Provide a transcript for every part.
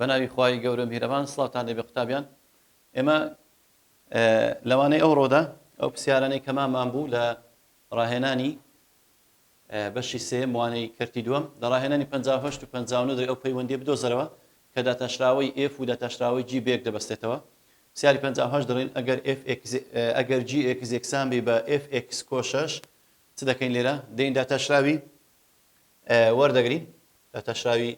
بەناوی خوای گەورە میهرەبان سڵاوتان لێبێ قوتابیان ئێمە لەوانەی ئەو ڕۆدا ئەو پرسیارانەی کەمامان بوو لە ڕاهێنانی بەشی سێیەم، وانەی کەرتی دووەم، لە ڕاهێنانی پەنجا و هەشت و پەنجا و نۆ دەرێ ئەو پەیوەندییە بدۆزەرەوە کە داتاشراوەی ئێف و داتاشراوەی جی بەیەک دەبەستێتەوە. پرسیاری پەنجا و هەشت دەڵێین ئەگەر ئێف ئێکس ئەگەر جی ئێکس یەکسان بی بە ئێف ئێکس کۆ شەش چ دەکەین لێرە دێین داتاشراوی وەردەگرین داتاشراوی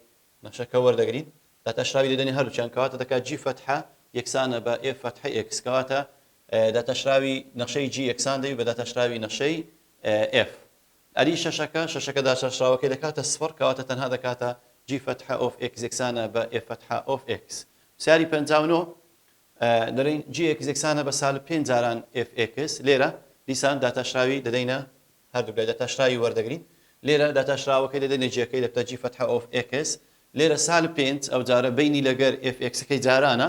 نەخشەکە وەردەگرین داتاشراوی لێدەنی هەردووچیان کەواتە دەکات جی فەتحە یەکسانە بە ئێف فەتحە ئێکس کەواتە داتاشراوی نەخشەی جی یەکسان دەبی بە داتاشراوی نەخشەی ئێف ئەری شەشەکە شەشەکە داچارشراوەکەی دەکاتە سفڕ کەواتە تەنها دەکاتە جی فەتحە ئۆف ئێکس یەکسانە بە ئێف فەتحە ئۆف ئێکس پرسیاری پەنجا و نۆ دەڵێن جی ئێکس یەکسانە بە سالب پێنج جاران ئێف ئێکس لێرە دیسان داتاشراوی دەدەینە هەردوو لای داتاشراوی وەردەگرین لێرە داتاشراوەکەی دەدەینە جیەکەی دەبتە جی فەتحە ئۆف ئێکس لێرە سالب پێنج ئەو جارە بینی لەگەر ئێف ئێکسەکەی جارانە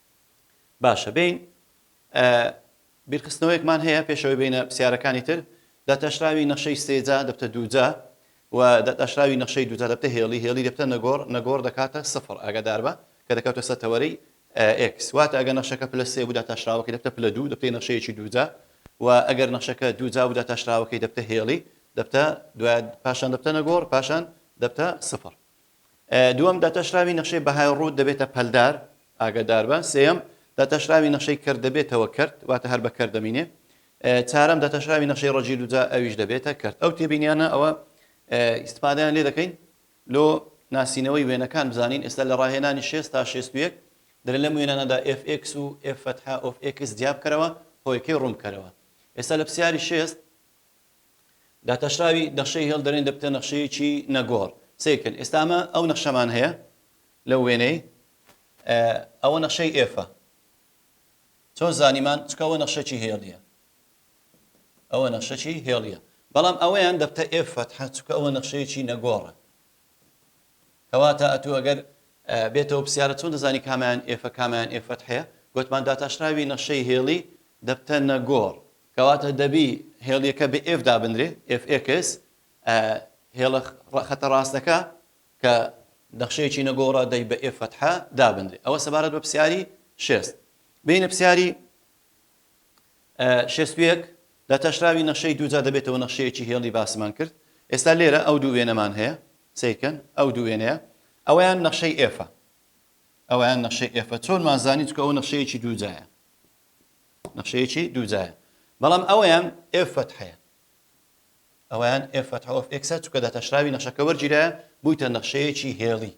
باشە بێین ئە بیرخستنەوەیەکمان هەیە پێش ئەوەی بێینە پرسیارەکانی تر داتاشراوی نەخشەی سێ جا دەبتە دوو جا و داتاشراوی نەخشەی دوو جا دەبتە هێڵی هێڵی دەبتە نەگۆڕ نەگۆڕ دەکاتە سفر ئاگادار بە کە دەکاتە سەر تەوەرەی ئێکس واتە ئەگەر نەخشەکە پلە سێ بوو داتاشراوەکەی دەبتە پلە دوو دەبتە نەخشەیەکی دوو جا و ئەگەر نەخشەکە دوو جا بوو داتاشراوەکەی دەبتە هێڵی دەبتە دوای پاشان دەبتە نەگۆڕ پاشان دەبتە سفر دووەم، داتاشراوی نەخشەی بەهای ڕووت دەبێتە پەلدار، ئاگاداربە. سێیەم، داتاشراوی نەخشەی کەرت دەبێتەوە کەرت، واتە هەر بە کەرت دەمینێ. چارەم، داتاشراوی نەخشەی ڕەجی دووجا ئەویش دەبێتە کەرت. ئەو تێبینیانە ئەوە ئیستفادەیان لێ دەکەین لۆ ناسینەوەی وێنەکان بزانین ئێستا لە ڕاهێنانی شێست تا شێست و یەک دەلێ لەم وێنانەدا fx و f فتحە of x جیابکەرەوە هۆیکەی ڕوونبکەرەوە ئێستا لە پسیاری شێست داتاشراوی نەخشەی هێڵ دەرێن دەبتە نەخشەیەکی نەگۆڕ سەیر کەن ئێستا ئەمە ئەو نەخشەمان هەیە لەو وێنەی ئەوە نەخشەی ئێفە چۆن زانیمان چکە ئەوە نەخشەکی هێڵیە ئەوە نەخشەکی هێڵیە بەڵام ئەوەیان دەبتە ئێف فەتحە چکە ئەوە نەخشەیەکی نەگۆڕە کەواتە ئەتو ئەگەر بێتەوە پرسیارە چۆن دەزانی کامیان ئێفە کامیان ئێفەت هەیە گوتمان داتاشراوی نەخشەی هێڵی دەبتە نەگۆڕ کەواتە دەبی هێڵیەکە بە F دابنرێ، Fx، ئە هێڵە خەتە ڕاستەکە کە نەخشەیەکی نەگۆڕە دەی بە F فەتحە دابنرێ. ئەوە سەبارەت بە پرسیاری شێست. بێینە پرسیاری شێست و یەک، لە تەشراوی نەخشەی دووجا دەبێتەوە نەخشەیەکی هێڵی باسمان کرد. ئێستا لێرە ئەو دوو وێنەمان هەیە، سەیرکەن ئەو دوو وێنەیە، ئەوەیان نەخشەی F-ە. ئەوەیان نەخشەی F-ە. چۆنمان زانی؟ چونکە ئەوە نەخشەیەکی دووجایە. نەخشەیەکی دوو جایە بەڵام ئەویان ئێف فەتحەیە ئەویان ئێف فەتح ئۆف ئێکسە چکە داتاشراوی نەخشەکە وەرگیرە بوویتە نەخشەیەکی هێڵی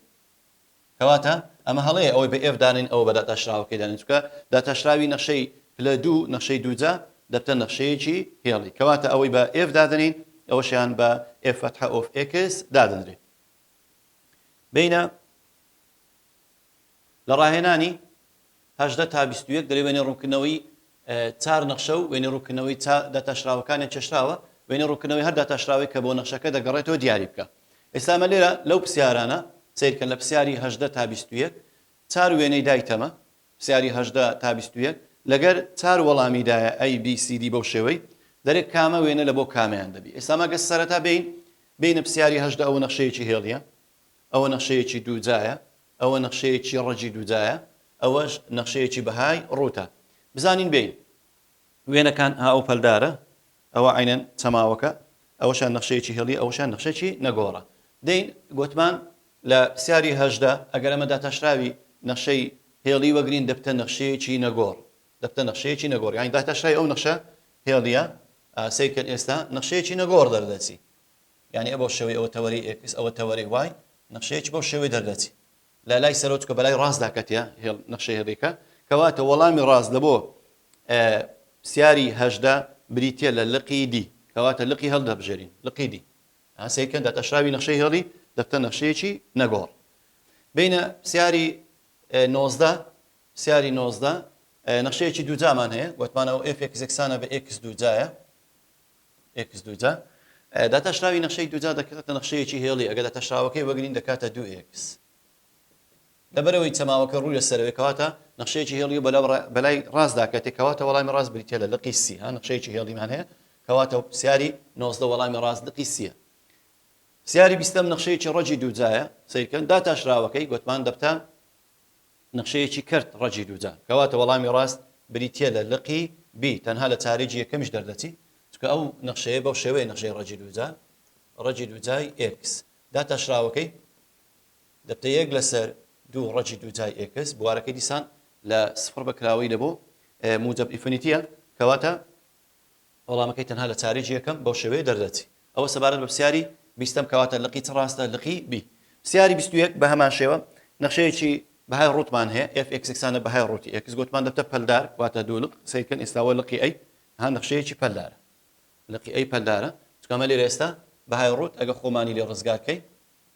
کەواتە ئەمە هەڵەیە ئەوەی بە ئێف دانین ئەوە بە داتاشراوەکەی دانین چکە داتاشراوی نەخشەی پلە دوو نەخشەی دووجا دەبتە نەخشەیەکی هێڵی کەواتە ئەوەی بە ئێف دادنین ئەوەشیان بە ئێف فەتح ئۆف ئێکس دادنرێت بینە لە ڕاهێنانی هەژدە تا بیست و یەک دەلێ وێنەی ڕوونکردنەوەی چار نەخشە و وێنەی ڕوونکردنەوەی چا داتاشراوەکانیان چێشراوە، وێنەی ڕوونکردنەوەی هەر داتاشراوەی کە بۆ نەخشەکە دەگەڕێتەوە دیاری بکە. ئێستا ئەمە لێرە لەو پرسیارانە، سەیر کەن لە پرسیاری هەژدە تا بیست و یەک چار وێنەی دایتەمە، پرسیاری هەژدە تا بیست و یەک لەگەر چار وەڵامی دایە A B C D بەو شێوەی دەرێ کامە وێنە لە بۆ کامەیان دەبی. ئێستا مەگە سەرەتا بێین بێینە پرسیاری هەژدە ئەوە نەخشەیەکی هێڵیە. ئەوە نەخشەیەکی دوو جایە، ئەوە نەخشەیەکی ڕەگی دوو جایە، ئەوەش نەخشەیەکی بەهای ڕووتە. بزانین بێین. وێنەکان هاو پەلدارە، ئەوە عەینەن چەماوەکە، ئەوەشیان نەخشەیەکی هێڵییە، ئەوەشیان نەخشەیەکی نەگۆڕە. دێین گۆتمان لە پرسیاری هەژدە ئەگەر ئەمە داتاشراوی نەخشەی هێڵی وەگرین دەبتە نەخشەیەکی نەگۆڕ، دەبتە نەخشەیەکی نەگۆڕ یانی داتاشراوی ئەو نەخشە هێڵییە، سەیرکەن ئێستا نەخشەیەکی نەگۆڕ دەردەچی. یانی ئەبەو شێوەی ئەوە تەوەرەی ئێکس ئەوە تەوەرەی وای نەخشەیەچ بەو شێوەی دەردەچی لە لای سەرەوە چکە بەلای ڕاستدا کەتیە هێڵ نەخشەی هێڵیکە کەواتە وەڵامی ڕاست لە بۆ پسیاری هەژدە بریتە لە لقی دی کەواتە لقی هەڵ دەبژێرین لقی دی هەسەیکەن دە تەشراوی نەخشەی هێڵی دەفتە نەخشەیەکی نەگۆڕ بینە پسیاری نۆزدە پسیاری نۆزدە نەخشەیەکی دووجامان هەیە گوتمانەوە ئفێکسێکسانە بە ئکس دووجایە ئێکس دووجا، داتاشراوی نەخشەی دووجا دەکاتە نەخشەیەکی هێڵی، ئەگەر داتاشراوەکەی وەرگرین دەکاتە دوو ئێکس، لەبەرئەوەی چەماوەکە ڕوو لەسەرەوەیە کەواتە نەخشەیەکی هێڵی و بەلای ڕاست داکەتێ کەواتە وەڵامی ڕاست بریتیە لە لقی سی ها نەخشەیەکی هێڵیمان هەیە کەواتە پرسیاری نۆزدە وەڵامی ڕاست لقی سیە پرسیاری بیستەم نەخشەیەکی ڕەجی دووجایە سیرکەن داتاشراوەکەی گوتمان دەبتە نەخشەیەکی کەرت ڕەجی دووجا. کەواتە وەڵامی ڕاست بریتیە لە لقی بی تەنها لە چارەیی یەکەمیش دەردەچی چونکە ئەو نەخشەیە بەو شێوەیە نەخشەی ڕەجی دووجا ڕەجی دووجای ئێکس داتاشراوەکەی دەبتە یەک لەسەر دوو ڕەجی دووجای ئێکس بوارەکەی دیسان لە سفڕ بە کراوەی لە بۆ موجەب ئیفنیتیە کەواتە وەڵامەکەی تەنها لە چاریی یەکەم بەو شێوەیە دەردەچی. ئەوە سەبارەت بە پرسیاری بیستەم کەواتە لقی چ ڕاستە لقی بی. پرسیاری بیست و یەک بە هەمان شێوە نەخشەیەکی بەهای ڕووتمان هەیە ئێف ئێکس یەکسانە بەهای ڕووتی ئێکس گۆتمان دەبتە پەلدار واتە دوو لق سەیر کەن ئێستا وە لقی ئەی ها نەخشەیەکی پەلدارە لقی ئەی پەلدارە چونکە ئەمە لێرە ئێستا بەهای ڕووت ئەگە خۆمانی لێ ڕزگار کەی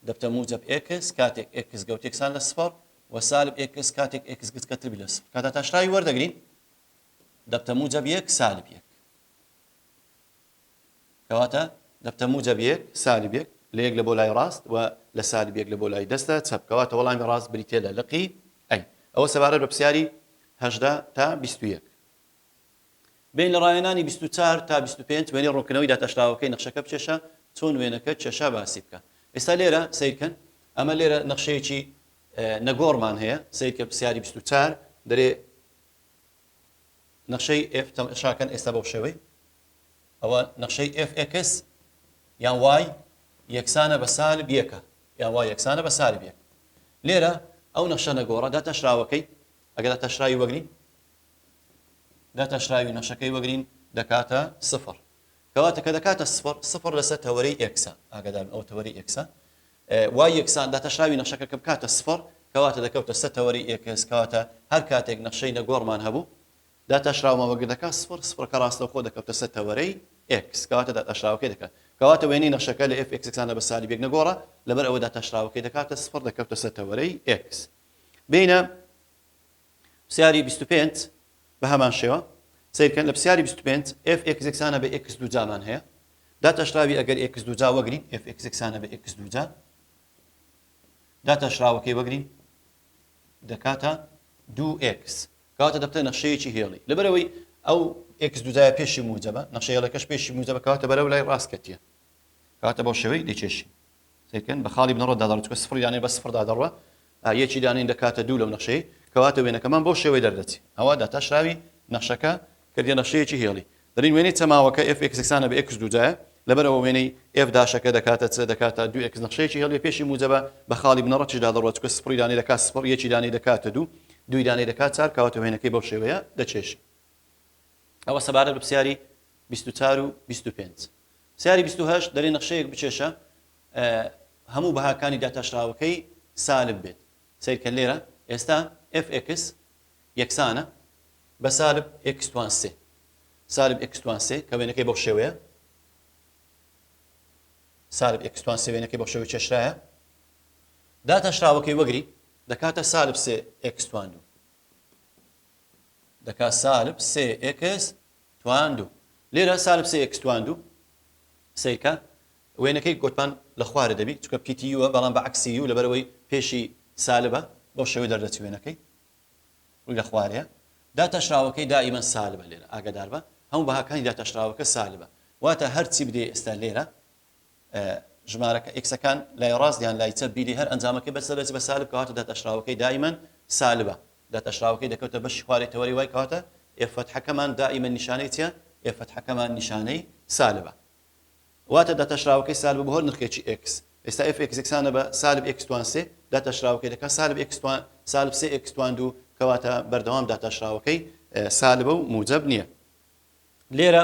دەبتە موجەب ئێکس کاتێک ئێکس گەوت یەکسان لە سفەڕ وە سالب ئێکس کاتێک ئێکس گچکەتر بی لە سفر کاتە تاشراوی وەردەگرین دەبتە موجەب یەک سالب یەک کەواتە دەبتە موجەب یەک سالب یەک لە یەک لە بۆ لای ڕاست و لە سالب یەک لە بۆ لای دەستە چەپ کەواتە وەڵامی ڕاست بریتە لە لقی ئەی ئەوە سەبارەت بە پرسیاری هەژدە تا بیست و یەک بین لە ڕایەنانی بیست و چوار تا بیست و پێنج وێنەی ڕوونکردنەوەی داتاشراوەکەی نەخشەکە بچێشە چۆن وێنەکە کێشا باسی بکە ئێستا لێرە سیرکەن ئەمە لێرە نەخشەیەکی نەگۆڕمان هەیە سیرکە پرسیاری بیست و چار دەرێ نەخشەی ئێف تەمەشا کەن ئێستا بەو شێوەی ئەوە نەخشەی ئێف ئێکس یان وای یەکسانە بە سالب یەکە یان وای یەکسانە بە سالب یەک لێرە ئەو نەخشە نەگۆڕە داتاشراوەکەی ئەگەر داتاشراوی وەگرین داتاشراوی نەخشەکەی وەگرین دەکاتە سفر کەواتە کە دەکاتە سفر سفر لەسەر تەوەری ئێکسە ئاگادار ئەو تەوەری ئێکسە وای یەکسان داتاشراوی نەخشەکە کە بکاتە سفڕ، کەواتە دەکەوتە سەر تەوەری ئێکس، کەواتە هەر کاتێک نەخشەی نەگۆڕمان هەبوو، داتاشراومان وەگر دەکات سفڕ، سفڕەکە ڕاستەوخۆ دەکەوتە سەر تەوەرەی ئێکس، کەواتە داتاشراوەکەی دەکات. کەواتە وێنەی نەخشەکە لە ئێف ئێکس یەکسانە بە سالب یەک نەگۆڕە، لەبەر ئەوە داتاشراوەکەی دەکاتە سفڕ، دەکەوتە سەر تەوەرەی ئێکس. بێینە. پرسیاری بیست و پێنج، بە هەمان شێوە. سەیر کەن لە پرسیاری بیست و پێنج، ئێف ئێکس یەکسانە بە ئێکس دووجا مان هەیە. داتاشراوی ئەگەر ئێکس دووجا وەگرین، ئێف ئێکس یەکسانە بە ئێکس دووجا. داتاشراوەکەی وەگرین دەکاتە دوو ئێکس. کەواتە دەبتە نەخشەیەکی هێڵی. لەبەرەوەی ئەو ئێکس دووجایە پێشی موجەبە، نەخشە هێڵەکەش پێشی موجەبە، کەواتە بەرەو لای ڕاست کەتییە. کەواتە بەو شێوەی دەیکێشین. سێکەند بە خاڵی بنەڕەت دادەڕێت چونکە سفڕی دانێ بە سفڕ دادەڕوا یەکی دانین دەکاتە دوو لەو نەخشەی کەواتە وێنەکەمان بەو شێوەی دەردەچی ئەوە داتاشراوی نەخشەکە کردە نەخشەیەکی هێڵی دەرین وێنەی چەماوەکە ئێف ئێکسەکسانە بە ئێکس دوجایە لەبەرەوە وێنەی ئێف داشەکە دەکاتە چ دەکاتە دوو ئێکس نەخشەیەکی هێڵی پێشی موجەبە بە خاڵی بنەڕەتیش دادەڕوە چکە سپڕی دانەی دەکات سپڕ یەکی دانەی دەکاتە دوو دوی دانەی دەکات چار کەواتە وێنەکەی بەو شێوەیە دەچێشی ئەوە سەبارەت بە پرسیاری 24 و 25 سیاری بیست و هەشت، دەرێ نەخشەیەک بکێشە هەموو بەهاکانی داتاشراوەکەی سالب بێت، سەیرکە لێرە، ئێستا fx یەکسانە بە سالب x توان سێ، سالب x توان سێ کە وێنەکەی بەو شێوەیە، سالب x توان سێ وێنەکەی بەو شێوەی کێشرایە، داتاشراوەکەی وەگری دەکاتە سالب سێ x توان دوو، دەکات سالب سێ x تواندو لێرە سالب سێ ئێکس تواندو سەیرکە وێنەکەی گۆتمان لە خوارە دەبی چونکە پیتی یووە بەڵام بە عەکسی یوو لەبەرئەوەی پێشی سالبە بەو شێوەی دەردەچی وێنەکەی ڕووی لە خوارەیە داتاشراوەکەی دائیمەن سالبە لێرە ئاگاداربە هەموو بەهاکانی داتاشراوەکە سالبە واتە هەرچی بدەی ئێستا لێرە ژمارەکە، ئیکسەکان، لای ڕاست یان لای چەپ بیری هەر ئەنجامەکەی بەرزە دەچێت بە سالب کەواتە داتاشراوەکەی دائیمەن سالبە داتاشراوەکەی دەکەوتە بەشی خوارەی تەوەرەی وای کەواتە ئێف فەتحەکەمان دائیمەن نیشانەی چیە ئێف فەتحەکەمان نیشانەی سالبە واتە داتاشراوەکەی سالبە بە هەر نرخێکی ئێکس ئێستا ئێف ئێکس یەکسانە بە سالب ئێکس توان سێ داتاشراوەکەی دەکات سالب ئێکس توان سالب سێ ئێکس توان دوو کەواتە بەردەوام داتاشراوەکەی سالبە و موجب نییە لێرە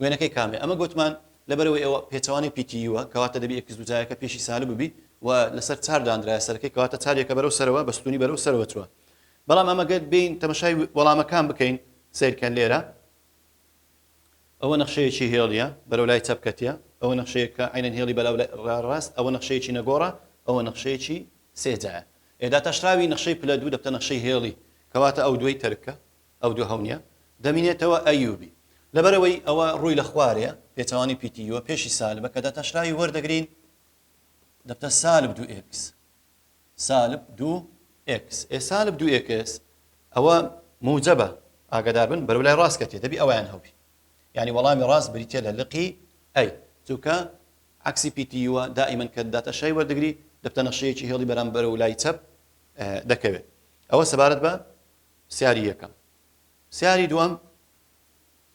وێنەکەی کامەیە؟ ئەمە گۆتمان لەبەرئەوەی ئەوە پێچەوانەی پیتی یووە کەواتە دەبی ئێکس دووجایەکە پێشی سالب ببی و لەسەر چار دانرایە سەرەکەی کەواتە چار یەکە بەرەو سەرەوە بە ستوونی بەرەو سەرەوە چووە بەڵام ئەمە گەر بێین تەمەشای وەڵامەکان بکەین سەیرکەن لێرە ئەوە نەخشەیەکی هێڵیە بەرەو لای چەپ کەتیە ئەوە نەخشەیەکە عینەن هێڵی بەلاو ڕاست ئەوە نەخشەیەکی نەگۆڕە ئەوە نەخشەیەکی سێجایە ئێدا تاشراوی نەخشەی پلە دوو دەبتە نەخشەی هێڵی کەواتە ئەو دوای تەرکە ئەو دوو هەونیە دەمینێتەوە ئەیوبی لەبەرئەوەی ئەوە ڕووی لە خوارێ پێچەوانی پیتی یوە پێشی سالبە کە داتاشراوی وەردەگرین دەبتە سالب دوو ئێکس سالب دوو ئێکس ئێ سالب دوو ئێکس ئەوە موجەبە ئاگداربن بەرو لای ڕاست کەتێ دەبی ئەویان هەبی یعنی وەڵامی ڕاست بریتە لە لقی ئەی چووکە عکسی پیتی یوە دائیمەن کە داتە شای وەردەگری دەبتە نەخشەیەکی هێڵی بەرامبەر و لای چەپ دەکەوێت ئەوە سەبارەت بە پرسیاری یەکەم. پرسیاری دووەم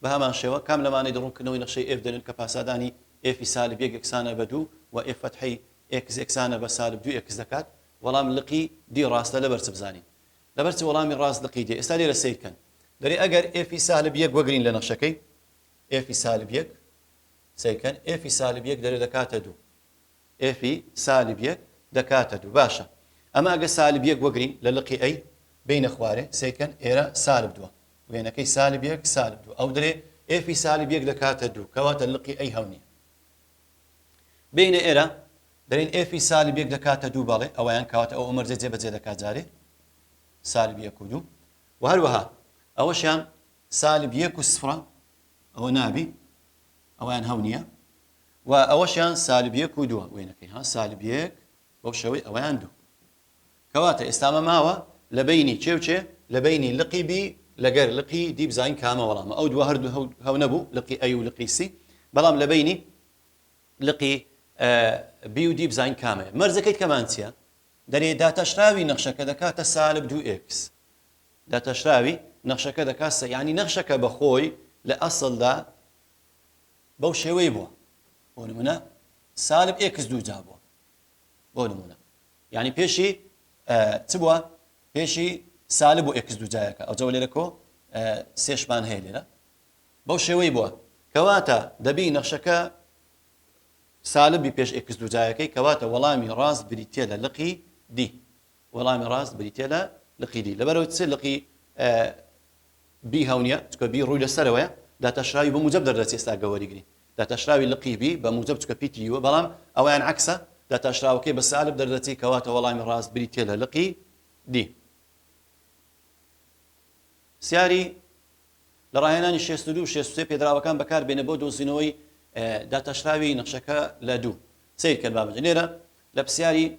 بە هەمان شێوە، کام لەمانەی دە ڕوونکردنەوەی نەخشەی ئێف دەنوێن کە پاسادانی ئێفی سالب یەک یەکسانە بە دوو و ئێف فەتحی ئێکس یەکسانە بە سالب دوو ئێکس دەکات؟ وەڵام، لقی دی ڕاستە. لەبەر چ بزانین لەبەر چ؟ وەڵامی ڕاست لقی دی. ئێستا لێرە سەیر کەن. دەرێ ئەگەر ئێفی سالب یەک وەگرین لە نەخشەکەی ئێفی سالب یەک، سەیر کەن، ئێفی سالب یەک دەرێ دەکاتە دوو. ئێفی سالب یەک دەکاتە دوو باشە ئەمە ئەگەر سالب یەک وەگرین لە لقی ئەی بێینە خوارێ سەیکەن ئێرە سالب دووە وێنەکەی سالب یەک سالب دوو ئەو درێ ئێفی سالب یەک دەکاتە دوو کەواتە لقی ئەی هەو نیە بێینە ئێرە دەرین ئێفی سالب یەک دەکاتە دوو بەڵێ ئەویان کەواتە ئەو ئەمەرجە جێ بەجێ دەکات جارێ سالب یەک و دوو و هەروەها ئەوەشیان سالب یەک و سفرە ئەوە نابی ئەویان هەو نیە و ئەوەشیان سالب یەک و دووە وێنەکەی ها سالب یەک بەو شێوەی ئەوەیان دوو کەواتە ئێستا ئەمە ماوە لە بینی کێ و کێ لە بینی لقی بی لەگەر لقی دی بزانین کامە وەڵامە ئەو دووە هەردوو هەو هەو نەبوو لقی ئەی و لقی سی بەڵام لە بینی لقی بی و دی بزانین کامەیە مەرزەکەی کەمان چییە دەرێ داتاشراوی نەخشەکە دەکاتە سالب دوو ئێکس داتاشراوی نەخشەکە دەکات سە یعنی نەخشەکە بەخۆی لە ئەسڵدا بەو شێوەی بووە بۆ نمونە سالب ئێکس دوو جا بووە بۆ نمونە یعنی پێشی چ بووە پێشی سالب و ئێکس دوو جایەکە ئەو جەوە لێرە کۆ سێشمان هەیە لێرە بەو شێوەی بووە کەواتە دەبی نەخشەکە سالبی پێش ئێکس دوو جایەکەی کەواتە وەڵامی ڕاست بریتە لە لقی دی وەڵامی ڕاست بریتیە لە لقی دی لەبەرەوەی چ لقی بی هەونیە چکە بی ڕووی لە سەرەوەە داتاشراوی بە موجب دەردەچێ ستا گەوەریگری داتاشراوی لقی بی بە موجب چکە پیتریوە بەڵام ئەویان عکسە داتاشراوەکەی بە سالب دەردەچی کەواتە وەڵامی ڕاست بریتیە لە لقی دی سیاری لە ڕاهێنانی 62 63 پێدراوەکان بەکار بێنە بۆ دۆزینەوەی داتاشراوی نەخشەکە لە دوو سیر کرد بابجە لێرە لە پرسیاری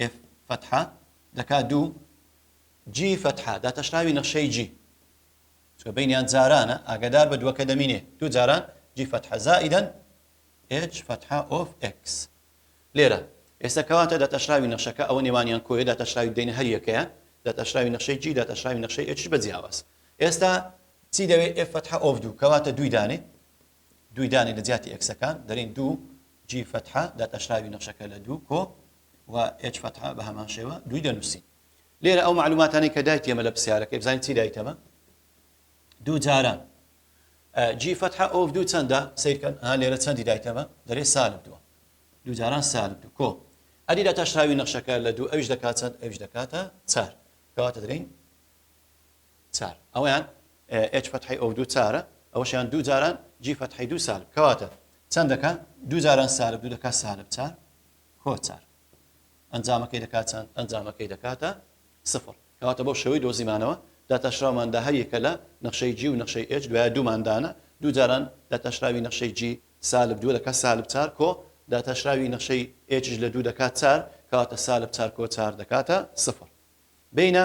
ئێف فەتحە دەکا دوو جی فەتحە داتەشراوی نەخشەی جی چکە بینیان جارانە ئاگدار بە دووەکە دەمینێ دوو جاران جی فەتحە زائیدەن ئێچ فەتحە ئۆف ئەکس لێرە ئێستا کەواتە داتەشراوی نەخشەکە ئەوە نێوانیان کۆیە داتەشراوی دەینە هەر یەکەیە داتەشراوی نەخشەی جی داتەشراوی نەخشەی ئێچ بە جیاواز ئێستا چی دەوێت ئێف فەتحە ئۆف دوو کەواتە دووی دانێ دووی دانێ لە جیاتی ئێکسەکان دەرین دوو جی فەتحە داتاشراوی نەخشەکە لە دوو کۆ و ئێچ فەتحە بە هەمان شێوە دووی دەنووسی لێرە ئەو معلوماتانی کە دای تێمە لە پرسیارەکەی بزانین چی دای تەمە دوو جاران جی فەتحە ئۆف دوو چەندە سیرکەن ها لێرە چەندی دای تەمە دەرێ سالب دووە دوو جاران سالب دوو کۆ ئەدی داتاشراوی نەخشەکە لە دوو ئەوش دەکات چەند ئەوش دەکاتە چار کەواتە درین چار ئەوەیان ئێچ فەتحەی ئۆو دوو چارە ئەوەشیان دوو جاران جی فەتحەی دوو سالب کەواتە چەند دەکا دوو جاران سالب دوو دەکا سالب چار کۆ چار ئەنجامەکەی دەکات چەند ئەنجامەکەی دەکاتە سفر کەواتە بۆ شێوەی دۆزیمانەوە داتاشراوماندا هەر یەکە لە نەخشەی جی و نەخشەی ئێچ دوای دووماندانە دوو جاران داتاشراوی نەخشەی جی سالب دوو دەکات سالب چار کۆ داتاشراوی نەخشەی ئێچش لە دوو دەکات چار کەواتە سالب چار کۆ چار دەکاتە سفر بینە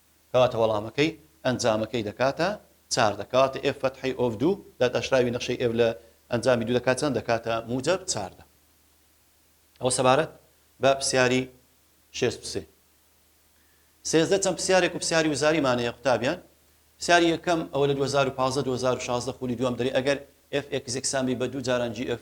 کەواتە وەڵامەکەی ئەنجامەکەی دەکاتە چاردە کەواتە ئێف فەتحەی ئۆف دوو داداشراوی نەخشەی ئێف لە ئەنجامی دوو دەکات چەند دەکاتە موجەب چاردە ئەوە سەبارەت بە پرسیاری شێست و سێ سێزدە چەند پرسیارێک و پرسیاری وزاری مانەیە قوتابیان پرسیاری یەکەم ئەوە لە 2015 2016 خولی دووەم دەری ئەگەر FXX سامی بە دوو جاران GF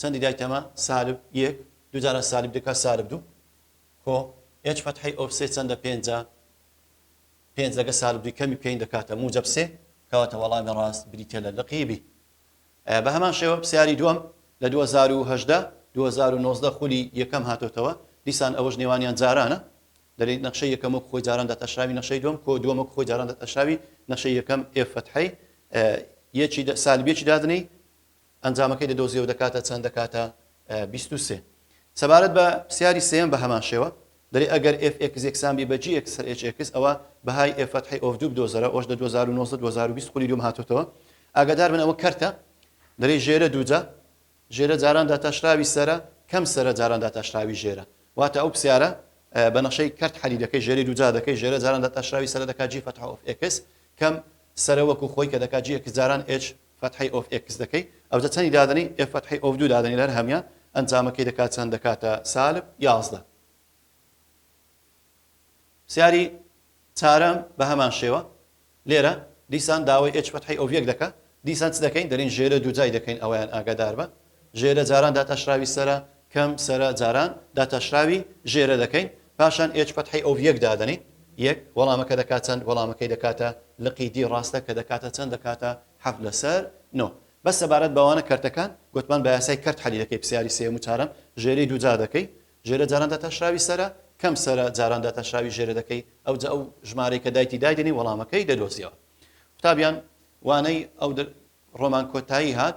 چەندی دای تەمە سالب یەک دوو جاران سالب دەکا سالب دوو کۆ ئێچ فەتحەی ئۆف سێ چەندە پێنجە پێنج لەگە سالب دووی کەمی بکەین دەکاتە موجەب سێ کەواتە وەڵامی ڕاست بریتە لە لقی بی بە هەمان شێوە پسیاری دووەم لە دوو هەزار و هەژدە دوو هەزار و نۆزدە خولی یەکەم هاتۆتەوە دیسان ئەوەش نێوانیان جارانە دەلی نەخشەی یەکەم وەک خۆی جاران دەتەشراوی نەخشەی دووەم کۆ دووەم وەک خۆی جاران دەتەشراوی نەخشەی یەکەم ئێف فەتحەی یەکی سالبیەکی دادنەی ئەنجامەکەی دەدۆزێ و دەکاتە چەند؟ دەکاتە بیست و سێ. سەبارەت بە پرسیاری سێیەم بە هەمان شێوە دەرێ ئەگەر ئێف ئێکس یەکسان بی بە جی ئێکس سەر ئێچ ئێکس ئەوە بەهای ئێف فەتحی ئۆف دوو بدۆزەرە ئەوەش لە دوو هەزار و نۆزدە دوو هەزار و بیست خولی دووم هاتۆتەوە ئاگادار بن ئەوە کەرتە دەرێ ژێرە دووجا ژێرە جاران داتاشراوی سەرە کەم سەرە جاران داتاشراوی ژێرە واتە ئەو پرسیارە بە نەشەی کەرت حەلی دەکەی ژێری دووجا دەکەی ژێرە جاران داتاشراوی سەرە دەکات جی فەتح ئۆف ئێکس کەم سەرە وەکو خۆی کە دەکات جی ئێکس جاران ئێچ فتحەی ئۆف ئێکس دەکەی ئەوجە چەنی دادەنێی ئێف فتحەی ئۆف دوو دادەنێی لە هەر هەمیان ئەنجامەکەی دەکات چەند دەکاتە سالب یازدە پسیاری چارەم بە هەمان شێوە لێرە دیسان داوای ئێچ فتحەی ئۆف یەک دەکە دیسان چ دەکەین دەرین ژێرە دوو جای دەکەین ئەویان ئاگادار بە ژێرە جاران داتاشراوی سەرە کەم سەرە جاران داتاشراوی ژێرە دەکەین پاشان ئێچ فەتحەی ئۆڤ یەک دادەنێین یەک وەڵامەکە دەکات چەند وەڵامەکەی دەکاتە لقی دی ڕاستە کە دەکاتە چەند دەکاتە حەفت لەسەر نۆ بەس سەبارەت بەوانە کەرتەکان گوتمان بە یاسای کەرت حەلی دەکەی پرسیاری سێم و چارەم ژێرەی دووجا دەکەی ژێرە جاران داتاشراوی سەرە کەم سەرە جاران داتاشراوی ژێرە دەکەی ئەو جا ئەو ژمارەی کە دایتی دایدنی وەڵامەکەی دەدۆزیەوە قوتابیان وانەی ئەو ڕۆمان کۆتایی هات